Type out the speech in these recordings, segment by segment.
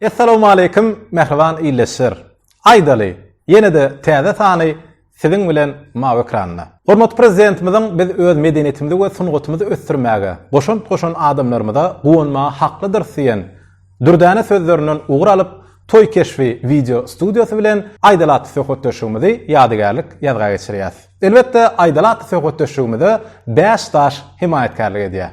Essalawmaleýkim mähriban ildeşler. Aýdaly, ýene-de täze sany Siziň bilen mawy ekranda. Hormatly Prezidentimiziň biz öz medeniýetimizi we sungatymyzy ösdürmäge goşant goşan adamlarymyza guwanmaga haklydyrys diýen dürdäne sözlerinden ugur alyp, Toý keşbi wideo studiýasy bilen aýdal atly söhbetdeşligimizi ýadygärlik ýazga geçirýäs. Elbetde, aýdal atly söhbetdeşligimize bäş daş hemaýatkärlik edýär.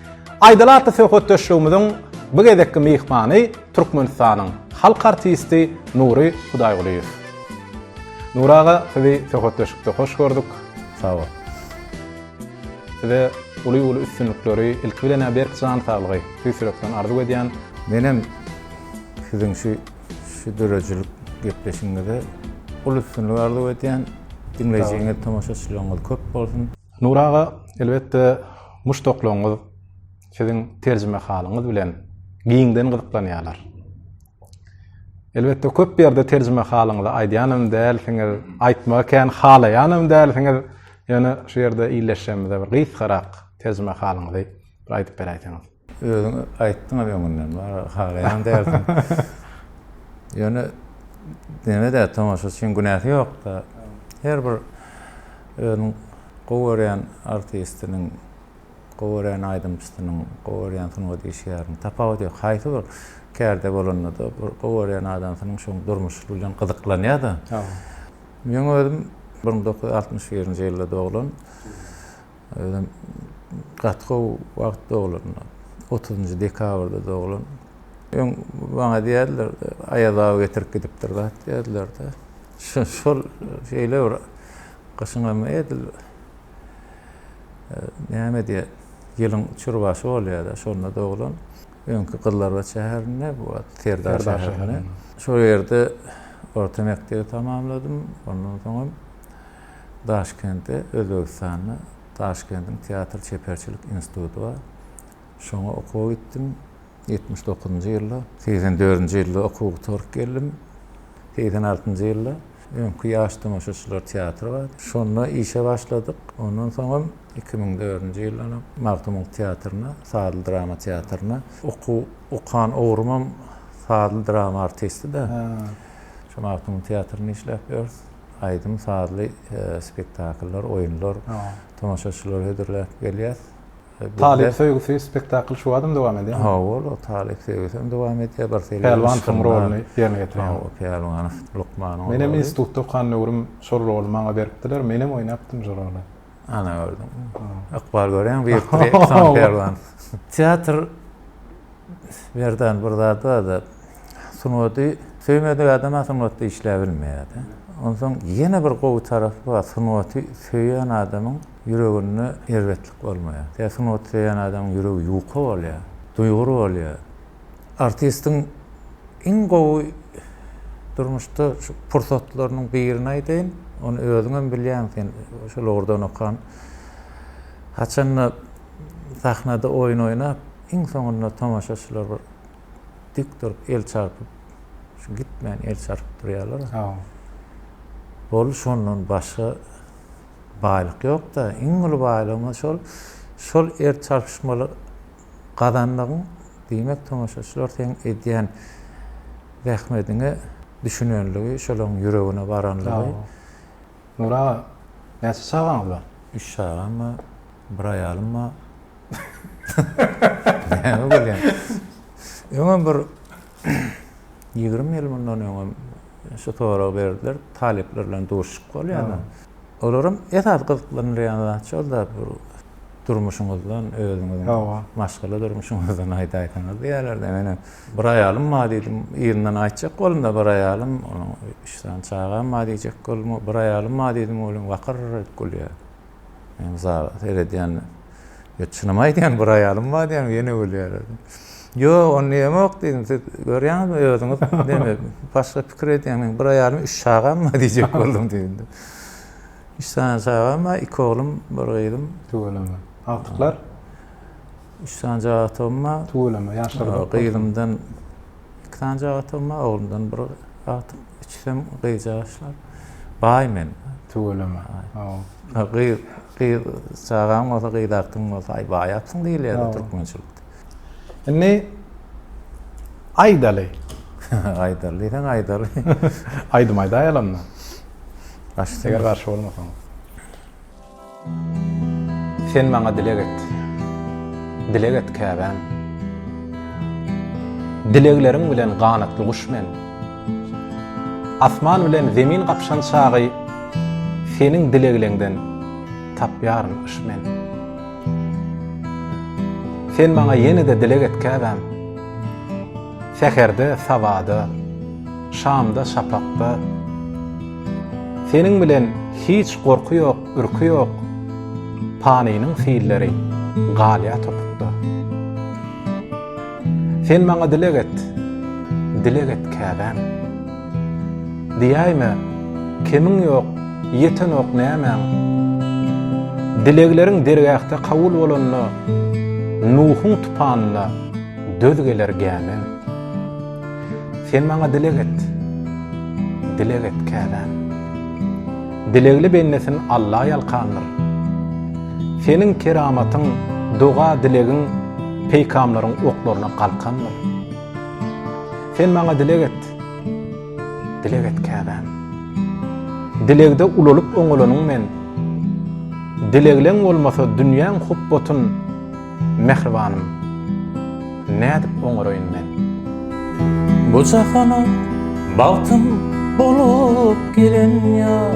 Aýdal atly söhbetdeşligimiziň bu gezekki myhmany Türkmenistanyň halk artisti Nury Hudaýgulyýew. Nury aga, sizi söhbetdeşlikde hoş gördük. Sag bol. Size uly-uly üstünlikleri, ilki bilen-ä berk jan saglygy tüýs ýürekden arzuw edýän. Menem siziň şu şu döredijilik gepleşigiňize uly üstünlik arzuw edýän. Diňleýjiňiz, tomaşaçylaryňyz köp bolsun. Nury aga, elbetde, muşdaklaryňyz siziň terjimehalyňyz bilen giňden gyzyklanýarlar. Elbetde, köp ýerde terjimehalyňyzy aýdýanam dälsiňiz, aýtmagy kän halaýanam dälsiňiz. Ýöne şu ýerde ildeşlerimize bir gysgarak terjimehalyňyzy bir aýdyp beräýseňiz. Özüň aýtdyňam öňünden, bara halaýan dälsiň. Ýöne neme-de tomaşaçyň günäsi ýok-da. Her bir özüniň gowy görýän artistiniň, gowy görýän aýdymçysynyň, gowy görýän sungat işgäriniň tapawudy ýok. Haýsy bir kärde bolanda-da, bir gowy görýän adamsynyň şoň durmuşy bilen gyzyklanýar-da. Meň özüm bir müň dokuz ýüz altmyş birinji ýylda doglan. Özem gaty gowy wagt doglandy. Otuzynjy dekabrda doglan. Öň maňa diýerdiler, Aýaz aga getirip gidipdir zat diýerdiler-de. Şol şeýle bir gyşyňam edil näme diýer, ýylyň çürbaşy bolýar-da, şonda doglan. Öňki Gyzlarbat şäherinde, bu wagt Serdar şäherinde. Şol ýerde orta mekdebi tamamladym. Ondan soňam Daşkentde Özbegistanda Daşkentiň teatr çeperçilik instituty bar. Şoňa okuwa gitdim. Ýetmiş dokuzynjy ýylda, segsen dördünji ýylda okuwy gutaryp geldim. Segsen altynjy ýylda öňki ýaş tomaşaçylar teatry bardy. Şonda işe başladyk. Ondan soňam iki müň dördünji ýyldanam Magtymguly teatryna, sazly drama teatryna okuw okan ugrumam sazly drama artisti-de. Şu Magtymguly teatrynda işläp ýörüs. Aýdym-sazly spektakllar, oýunlar, tomaşaçylary hödürläp gelýäs. Talyp söýgüsi spektakly şu badam dowam edýärmi? Hawa, ol Talyp söýgüsi hem dowam edýär. Bir seri Pälwanowyň roluny ýerine ýetirýän. Hawa, Pälwanow lukmanyň roly. Menem institutda okan döwrüm şol roly maňa beripdiler. Menem oýnapdym şo roly. Ana gördüm. Ykbal görýän bir San Perlan. Teatr Berdan bir zat bardy. Sungaty söýmedik adam sungatda işläp bilmeýärdi. Ondan ýene bir gowy tarapy bar. Sungaty söýen adamyň ýüreginde erbetlik bolmaýar. Tä sungaty söýen adamyň ýüregi ýuka bolýar, duýgur bolýar. Artistiň iň gowy durmuşda şu pursatlarynyň birini aýdaýyn. Ony özüň hem bilýäň, sen şol ugurdan okan. Haçanda sahnada oýun oýnap, iň soňunda tomaşaçylar bir dik durup el çarpyp, şu gitmän el çarpyp durýarlar. Bol şondan başga baýlyk ýok-da. Iň uly baýlygymyz şol. Şol el çarpyşmalar gazandygyň diýmek tomaşaçylar seň edýän zähmediňe düşünenligi şolaň ýüregine baranlygy. Nur aga näçe çagaňyz bar? Üç çagam bar, bir aýalym bar. Näme gülýäň? Öňem bir ýigrimi ýyl mundan öňem şu soragy berdiler, talyplar bilen duşuşyk bolýardy. Olaryň esasy gyzyklanylýan zat şol-da, bir durmuşyňyzdan, özüňiziň maşgala durmuşyňyzdan aýdaýsaňyz diýýärler-de. Menem bir aýalym bar diýdim. Yzyndan aýtjak boldum-da, bir aýalym, onuň üç sany çagam bar diýjek boldum. Bir aýalym bar diýdim, welin wakyr edip gülýär. Men zala seredýän, Ýa çynymy aýdýaň, bir aýalym bar diýýäňmi? Ýene gülýärler. Ýok, onda ýemok diýdim. Siz görýäňizmi özüňiz näme başga pikir edýäňmi? Bir aýalym, üç çagam bar diýjek boldum diýdi. Üç sany çagam bar, iki oglum, bir gyzym. Tüweleme. Agtyklar? Üç sany jagtygym bar. Tüweleme, ýaşlary köp. Gyzymdan iki sany jagtygym bar, oglumdan bir agtyk, üçüsem gyzjagaşlar. Baý men. Tüweleme. Gyz, gyz çagaň bolsa, gyz agtygyň bolsa, aý baý atsyň diýilýär türkmençilikde. Indi aýdaly. aýdaly diýseň aýdaly. Aýdym aýdaýalanda. Başda eger garşy bolmasaň. Sen maňa dileg et. Dileg et käbäm. Dilegleriň bilen ganatly guş men. Asman bilen zemin gapşan çagy seniň dilegleňden tapýaryn yş men. Sen maňa ýene-de dileg et käbäm. Säherde, sabada, şamda, şapakda. Seniň bilen hiç gorky ýok, ürki ýok, Panynyň hilleri galýar topukda. Sen maňa dileg et, dileg et käbäm. Diýäýme, kemiň ýok, ýetenok nämäň? Dilegleriň dergähde kabul bolanda, Nuhuň tupanyna döz geler gämiň. Sen maňa dileg et, dileg et käbäm. Dilegli bendesin Alla ýalkandyr. Seniň keramatyň, doga-dilegiň peýkamlaryň oklaryna galkandyr. Sen maňa dileg et, Dileg et käbäm. Dilegde ulalyp oňalanyň men. Dilegleň bolmasa dünýäň hupbatyn, mähribanym, nädip oňaraýyn men? Bu jahana bagtym bolup gelen ýar.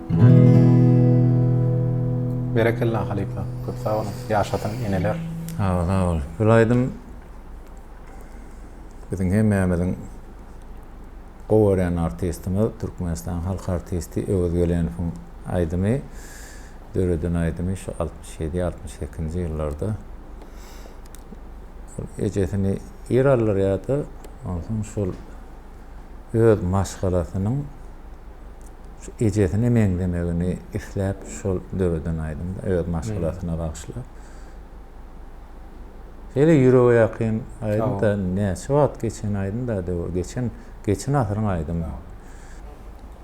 Berekella halypa köp sag boluň ýaşasyn eneler. Sag bol sag bol şul aýdym biziň hemmämiziň gowy görýän artistimiz Türkmenistan halk artisti Öwez Gelenowyň aýdymy döreden aýdymy şu altmyş ýedi altmyş sekizinji ýyllarda ejesini ir aldyrýardy onsoň şul öz maşgalasynyň şu ejesine meňzemegini isläp şol döreden aýdymda öz maşgalasyna bagyşlap. Şeýle ýürege ýakyn aýdym da näçe wagt geçen aýdym da döwür geçen geçen asyryň aýdymy.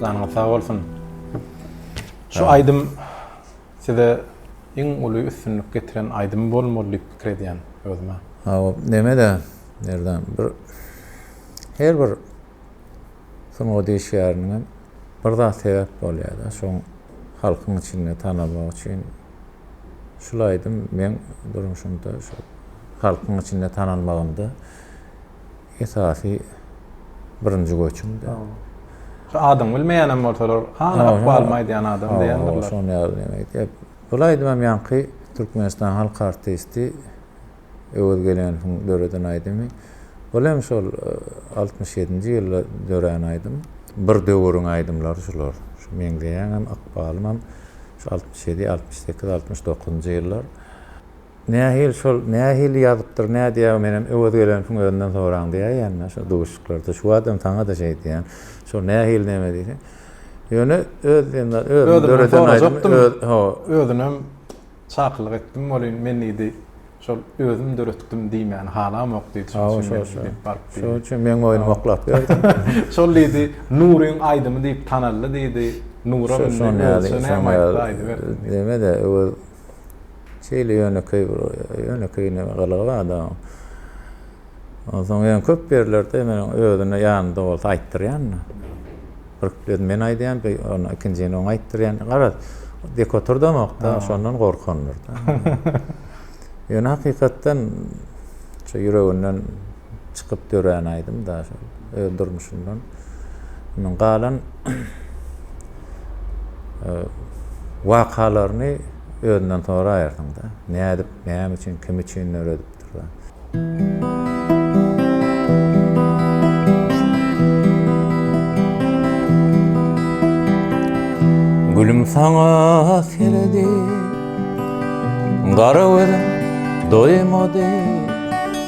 Janyňyz sag bolsun. Şu aýdym size iň uly üstünlik getiren aýdym bolmaly diýip pikir edýän özüme. Hawa, neme-de, Merdan, bir her bir sungat işgäriniň bir zat sebäp bolýar-da, şoň halkyň içinde tanalmak üçin. Şul aýdym meň durmuşymda şu halkyň içinde tanalmagymda Esasy birinji göçüm. Şu adyňy bilmeýänem bolsalar, hany ykbalymy aýdýan adam diýendirler. Oba, şony ýaly näme aýdýar. Bul aýdym hem ýaňky Türkmenistanyň halk artisti Öwez Gelenowyň döreden aýdymy. Bul hem şol altmyş ýedinji ýylda dörän aýdym. Bir döwüriň aýdymlary şular. Şu meňzeýäňem, ykbalymam şu altmyş ýedi, altmyş sekiz, altmyş dokuzynjy ýyllar. Nähili şol, nähili ýazypdyr, nädýägä menem Öwez Gelenowň özünden soraň diýäýen-dä şol duşuşyklarda. Şu badam saňa-da şeý diýýän. Şol nähili neme diýseň. Ýöne öz diýen özümiň döreden aýdymym öz, hawa. Özünem çakylyk etdim welin men diýdi, şol özüm döretdim diýmäni halamok diýdi. Şoň üçin men gidip baryp diýdi. Şoň üçin meň oýnumy oklap berdi. Şol diýdi, Nuryň aýdymy diýip tanaldy diýdi. Nura mindi, Öwezçe näme aýtsa aýdybersin diýdi. Deme-de, Öwez Şeýle ýönekeý bir ýönekeý näme gylygy bardy onuň. Onsoň ýöne köp ýerlerde men özüne ýanynda bolsa aýtdyrýan. Bir biz men aýdýan, bir ony ikinjini oň aýtdyrýan. Garaz, dik oturdamokda, şondan gorkandyr-da. Ýöne hakykatdan şu ýüreginden çykyp dörän aýdym da şol öz durmuşyndan. Indi galan e, wakalaryny özünden soraýarsyň da. Nädip, näme üçin, kim üçin döredipdir da. Gülüm sana seredip Gara gözüm doýmady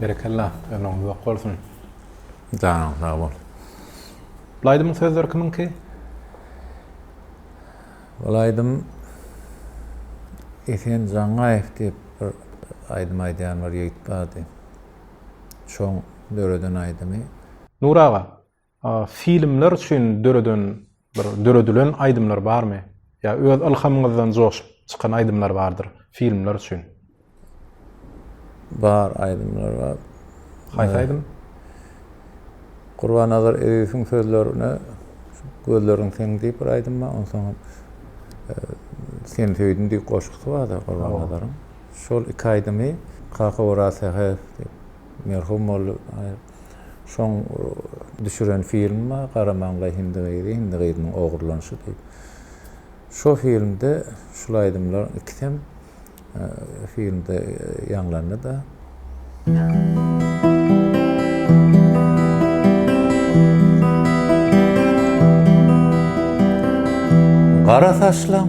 Berekella, ömrüňiz uzak bolsun. Janyň sag bol. Bul aýdymyň sözleri kimiňki? Bul aýdym Esen Jangaýew diýip bir aýdym aýdýan bir ýigit bardy. Şoň döreden aýdymy. Nur aga, Filmler üçin döreden bir döredilen aýdymlar barmy? Ýa öz ylhamyňyzdan joşup çykan aýdymlar bardyr filmler üçin? Bar aýdymlar bar. Haýsy aýdym? Gurbanazar Eziziň sözlerine Gözleriň seň diýip bir aýdym bar. Onsoň Seni söýdüm diýip goşgusy bar-da Gurbanazaryň. Şol iki aýdymy Kaka Oraz Sähew diýip merhum boldy. Şoň düşüren filmi bar, Garamaňlaý hindi gyzy, hindi gyzynyň ogurlanyşy diýip. Şo filmde şul aýdymlaryň ikisem filmde ýaňlandy-da. Gara saçlaň.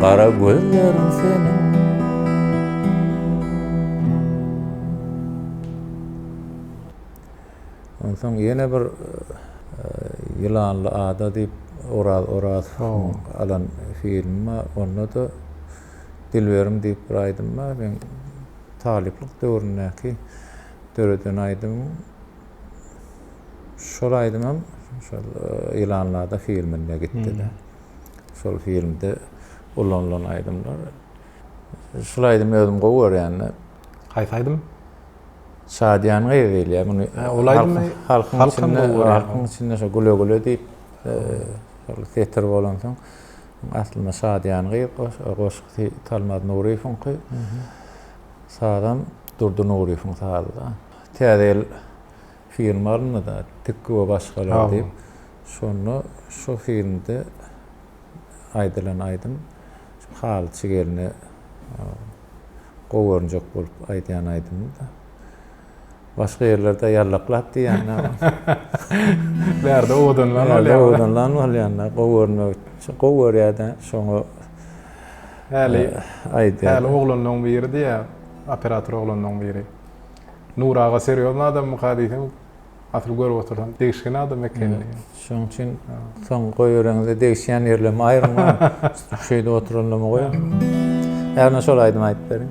Gara gözleriň seniň Onsoň ýene bir Ýylanly ada diýip Oraz Orazowyň alan filmi bar. Onda-da Dilberim diýip bir aýdym bar. Meň talyplyk döwründäki döreden aýdymym. Şol aýdymam şol Ýylanlarda filminde gitdi-de. Şol filmde ulanylan aýdymlar. Şol aýdymy özüm gowy görýän-de. Haýsy aýdym? Şadyýan gyz diýilýär. Muny ol aýdymy halkyň içinde, halkyň içinde şo güle güle diýip şol setir bolansoň aslynda Şadyýan gyz goşgusy Talmaz Nuryýewiňki. Sazam Durdy Nuryýewiň sazy-da. Täze ýyl filmi alyndy-da, Tikgi we başgalar diýip. Şonda şo filmde aýdylan aýdym halyçy gelne gowy görünjek bolup aýdýan aýdymdy-da. Başga ýerlerde ýallaklap diýýän-ä. Bu ýerde owadanlan bolýar. Bu ýerde owadanlan bolýan-da, gowy görünmek üçin. Gowy görýär-dä, şoňa aýdýar. Häli oglanlaryň biri diýýär, operator oglanlaryň biri. Nury aga serýozny adammyka diýseň asyl görüp otursam degişgen adam ekenini. Şoň üçin soň goýbereňizde degişýän ýerlerimi aýyrman şeýdip oturanymy goýaň. Ýagny şol aýdymy aýdyp beriň.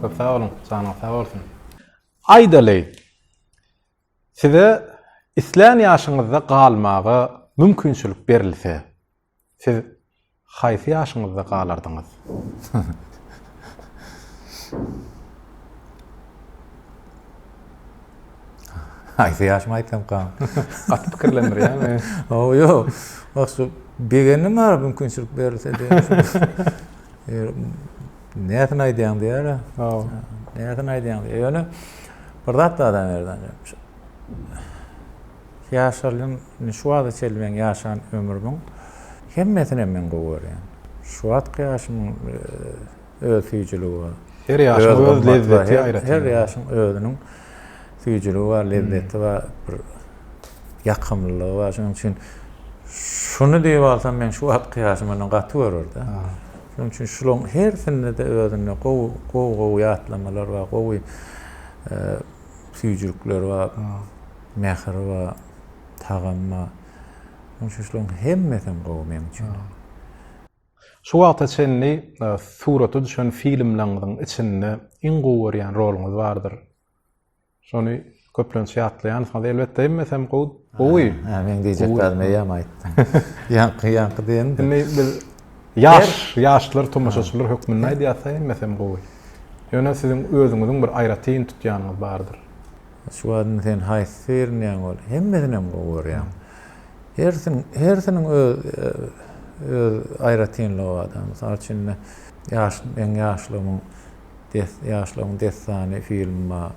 Köp sag boluň, janyňyz sag bolsun! Aýdaly, size islän ýaşyňyzda galmaga mümkinçilik berilse, siz haýsy ýaşyňyzda galardyňyz? Haýsy ýaşymy aýtsamkam? Gaty pikirlendirýär meni. Hawa, ýok. Wah, şu begendim ara mümkinçilik berilse diýen. Nätini aýdýaň diýýär-ä. Haw. Nätini aýdýaň diýýär. Ýöne bir zat bar Adamerdan. Ýaşalyň, şu wagta çenli meň ýaşan ömrümiň hemmesinem men gowy görýän. Şu wagtky ýaşymyň öz süýjüligi bar. Her ýaşyň öz lezzeti aýratyn. Her ýaşyň özüniň süýjüligi bar, lezzeti bar, bir ýakymlylygy bar. Şonuň üçin şuny diýip alsam, men şu wagtky ýaşym ondan gaty görürdi. Şonuň üçin şularyň hersinde-de özünde gowy, gowy, gowy ýatlamalar bar, gowy e, süýjülikler bar, mähir bar, tagam bar. Şonuň üçin şularyň hemmesi hem gowy meň üçin. Şu wagta çenli e, surata düşen filmleriňiziň içinde iň gowy görýän roluňyz bardyr? Şony köplenç ýatlaýansyňyz. Elbetde immesem gowy. Gowy. Ha, men diýjek zat meýem aýtdym. Ýaňky ýaňky diýen. Indi biz ýaş, ýaşlar tomaşaçylar hökmünde aýdýarsa immesem gowy. Ýöne siziň özüňiziň bir aýratyn tutýanyňyz bardyr. Şu wagt indi sen haýsy seýrenýäň ol? Hemmesinem gowy görýän. Hersin, hersiniň öz öz aýratynlygy bar. Mysal üçin indi ýaş, meň ýaşlygymyň Ýaşlygyň dessany filmima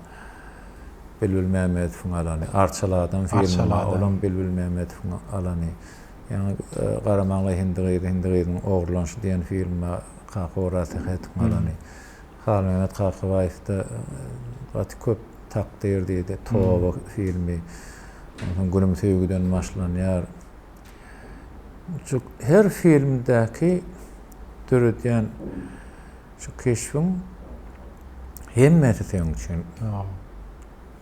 Bilbil Mämmedowyň alany, Arçaly adam filmima olam Bilbil Mämmedowyň alany, ýaňy Garamaňla hindi gyzy, hindi gyzyň ogurlanyşy diýen filmima Kaka Orasyhetowyň alany, Halmämmet Kakabaýewde gaty köp Takdyr diýdi, Toba filmi, onsoň Günüm söýgüden başlanýar. Her filmdäki döredýän. Şu keşbiň hemmesi seň üçin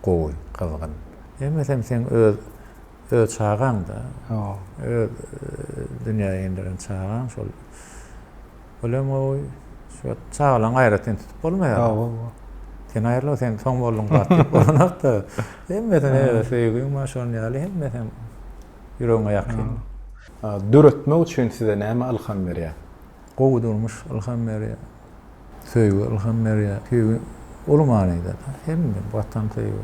gowy, gyzgyn. Hemmesem seň öz öz çagaň-da. Öz dünýä inderen çagaň şol. Olem gowy. Şu çagalaň aýratyn tutup bolmaýar. Sen aýrylyp sen soň bolduň gat diýip bolanok-da. Hemmesine öz söýgiň bar şonuň ýaly hemmesem ýüregiňe ýakyn. Döretmek üçin size näme ylham berýär? Gowy durmuş ylham berýär. Söýgi ylham berýär. Söýgi uly manyda da. Hemme watan söýgi,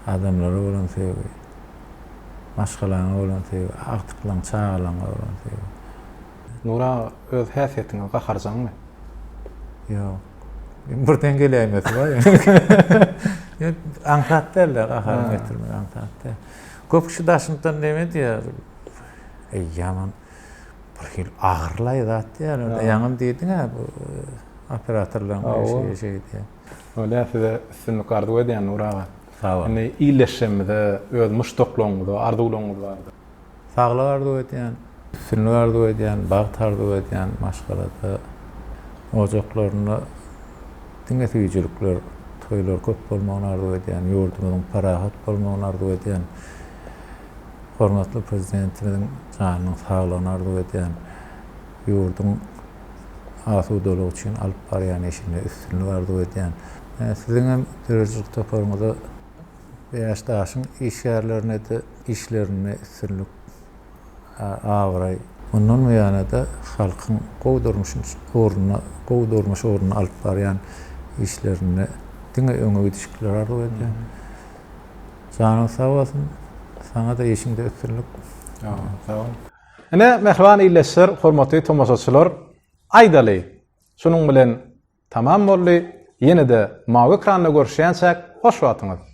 adamlara bolan söýgi, maşgalaňa bolan söýgi, agtyklaň, çagalaňa bolan söýgi. Nury aga öz häsiýetiňiz gaharjaňmy? Ýok. Iň birden geläýmesi bar ýa. Aňsat dälde gaharyňy getirmek aňsat däl. Köp kişi Daşyntdan neme diýýär? Eý ýaman. bir hil agyrlaý zat diýär. Ýaňam diýdiň-ä bu operatorlaryň işi şey diýip. Bolýar, size üstünlik arzuw edýän Nur aga. Sag bol. Indi illeşjemize öz muşdaklaryňyza arzuwlaryňyz bardyr. Saglyk arzuw edýän, üstünlik arzuw edýän, bagt arzuw edýän, maşgalada, ojaklarynda diňe süýjülikler, toýlar köp bolmagyny arzuw edýän, ýurdumyzyň parahat bolmagyny arzuw edýän. Hormatly Prezidentimiziň janynyň saglygyny arzuw edýän. Ýurduň asudalygy üçin alyp barýan işinde üstünlik arzuw edýän. Siziň hem döredijilik toparyňyza Bäş daşyň işgärlerine-de işlerinde üstünlik, abraý, mundan buýana-da halkyň gowy durmuş ugruna, gowy durmuş ugruna alyp barýan işlerinde diňe öňe gidişlikleri arzuw edýän. Janyň sag bolsun. Saňa-da işiňde üstünlik. Sag boluň, sag boluň. Ine, mähriban ildeşler, hormatly tomaşaçylar, aýdaly, şunuň bilen tamam boldy. Ýene-de mawy ekranda görüşýänçäk, hoş wagtyňyz!